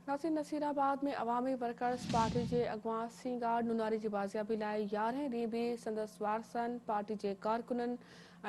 Nasir Nasirabad ۾ Awami workers party جي اڳواڻ سينگار نوناري جي بازيابي لاء يارهين ڏينهن به سندس وارثن، پارٽي جي ڪارڪنن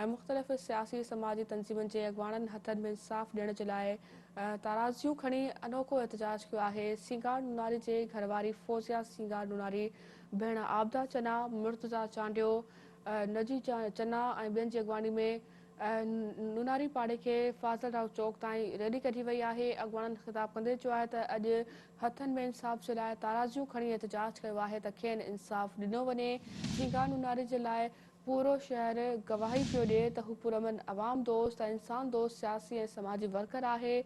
۽ مختلف سياسي سماجي تنظيمن جي اڳواڻن هٿن ۾ انصاف ڏيڻ جي لاء ترازيون کڻي انوکو احتجاج ڪيو آهي، سينگار نوناري جي گهرواري فوزيا سينگار نوناري، ڀيڻ عابده چنا، مرتضيٰ چانڊيو، نجي چنا ۽ ٻين جي اڳواڻي ۾ نوناري پاڙي کي فاضل راء چوڪ تائين ريلي ڪڍي وئي آهي، اڳواڻن خطاب ڪندي چيو آهي ته اڄ هٿن ۾ انصاف جي لاء تارازيون کڻي احتجاج ڪيو آهي ته کين انصاف ڏنو وڃي، جيڪا نوناري جي لاء پورو شهر گواهي پيو ڏئي ته هو پرامن عوام دوست ۽ انسان دوست سياسي ۽ سماجي ورڪر آهي،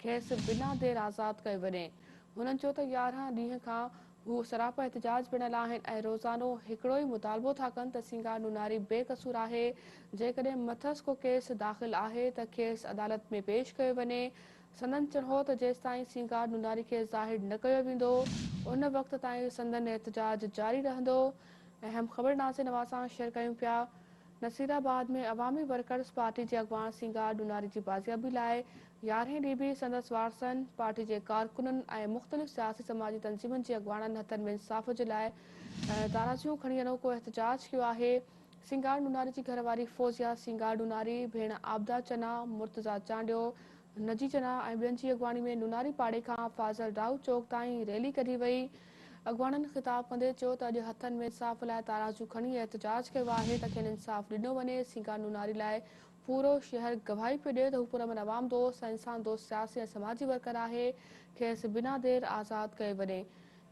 کيس بنا دير آزاد ڪيو وڃي، هنن چيو ته يارهن ڏينهن کان هو سراپا احتجاج پڻ هليا آهن ۽ روزانو هڪڙو ئي مطالبو ٿا ڪن ته سينگار نوناري بي قصور آهي، جيڪڏهن مٿس ڪو ڪيس داخل آهي ته کيس عدالت ۾ پيش ڪيو وڃي. سندن چڻ هو ته جيستائين سينگار نوناري کي ظاهر نه ڪيو ويندو، ان وقت تائين سندن احتجاج جاري رهندو. اهم خبر ناظرين اوهان سان شيئر ڪيون پيا. نصيرآباد ۾ عوامي ورڪرز پارٽي جي اڳواڻ سينگار ڏوناري جي بازيابي لاء يارهين ڏينهن به سندس وارثن، پارٽي جي ڪارڪنن ۽ مختلف سياسي سماجي تنظيمن جي اڳواڻن هٿن ۾ انصاف جي لاء تارازيون کڻي انوکو احتجاج ڪيو آهي. سينگار ڏوناري جي گهر واري فوزيا سينگار ڏوناري، ڀيڻ عابده چنا، مرتضيٰ چانڊيو، نجي چنا ۽ ٻين جي اڳواڻي ۾ ڏوناري پاڙي کان فاضل راهو چوڪ تائين ريلي ڪڍي وئي. اڳواڻن خطاب ڪندي چيو ته اڄ هٿن ۾ انصاف لاء تارازو کڻي احتجاج ڪيو آهي ته کين انصاف ڏنو وڃي، سينگار نوناري لاء پورو شهر گواهي پيو ڏئي ته هو پرامن عوام دوست ۽ انسان دوست سياسي ۽ سماجي ورڪر آهي، کيس بنا دير آزاد ڪيو وڃي.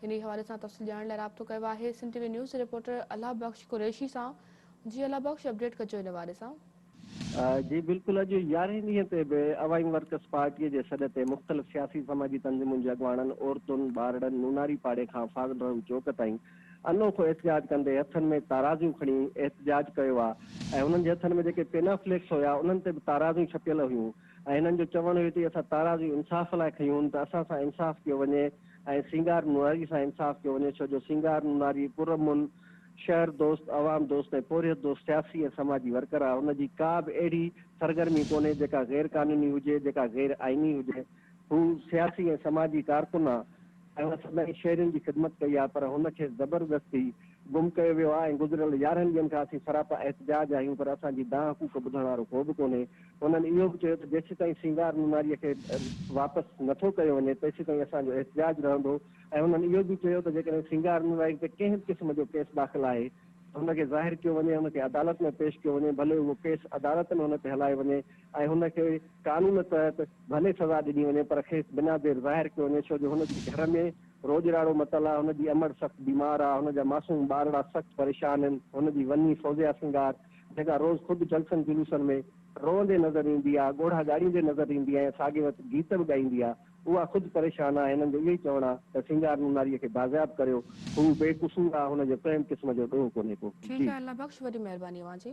انهي حوالي سان تفصيل ڄاڻڻ لاء رابطو ڪيو آهي سنڌ ٽي وي نيوز جي رپورٽر الله بخش قريشي سان جي الله بخش اپڊيٽ ڪجو ان حوالي سان. جي بلڪل اڄ يارهين ڏينهن تي به عوائم ورڪرس پارٽي جي سڏ تي مختلف سياسي سماجي تنظيمن جي اڳواڻن عورتن ٻارڙن نوناري پاڙي کان فاضل رحم چوڪ تائين انوکو احتجاج ڪندي هٿن ۾ تارازيون کڻي احتجاج ڪيو آ ۽ هنن جي هٿن ۾ جيڪي پينا فليڪس هيا انهن تي به تارازيون ڇپيل هيون ۽ هنن جو چوڻ هيو تي اسان تارازيون انصاف لاء کنيون ته اسان سان انصاف ڪيو وڃي ۽ سينگار نوناري سان انصاف ڪيو وڃي ڇو جو سينگار نوناري پرامن شهر دوست، عوام دوست ۽ پورهيت دوست سياسي ۽ سماجي ورڪر آهي، ان جي ڪا به اهڙي سرگرمي ڪونهي جيڪا غير قانوني هجي، جيڪا غير آئيني هجي، هو سياسي ۽ سماجي ڪارڪن آهي ۽ هن سدائين شهرين جي خدمت ڪئي آهي پر هن کيس زبردستي گم ڪيو ويو آهي ۽ گذريل يارهن ڏينهن کان اسين سراپا احتجاج آهيون پر اسان جي دانهن ڪوڪ ٻڌڻ وارو ڪو به ڪونهي، هنن اهو به چيو ته جيسيتائين سينگار نوناريء کي واپس نٿو ڪيو وڃي تيسيتائين اسان جو احتجاج رهندو. ۽ هنن اهو به چيو ته جيڪڏهن سينگار نرائي تي ڪنهن به قسم جو ڪيس داخل آهي ته هن کي ظاهر ڪيو وڃي ۽ هن کي عدالت ۾ پيش ڪيو وڃي ڀلي اهو ڪيس عدالت ۾ هن تي هلائي وڃي ۽ هن کي قانون تحت ڀلي سزا ڏني وڃي پر کيس بنا دير ظاهر ڪيو وڃي ڇو جو هن جي گهر ۾ روڄراڙو متل آهي هن جي امڙ سخت بيمار آهي هن جا معصوم ٻارڙا سخت پريشان هن هن جي وني فوزيا سينگار جيڪا روز خود جلسن جلوسن ۾ روئندي نظر ايندي آهي ڳوڙها ڳاڙيندي نظر ايندي آهي ۽ ساڳي وقت گيت به ڳائيندي آهي اها خود پريشان آ، هنن جو اهو ئي چوڻ آ ته سينگار نوناريء کي بازياب ڪريو، هو بي قصور آ، هن جو ڪنهن قسم جو ڏوهه ڪونهي ڪو. ٺيڪ آ الله بخش وڏي مهرباني اوهان جي.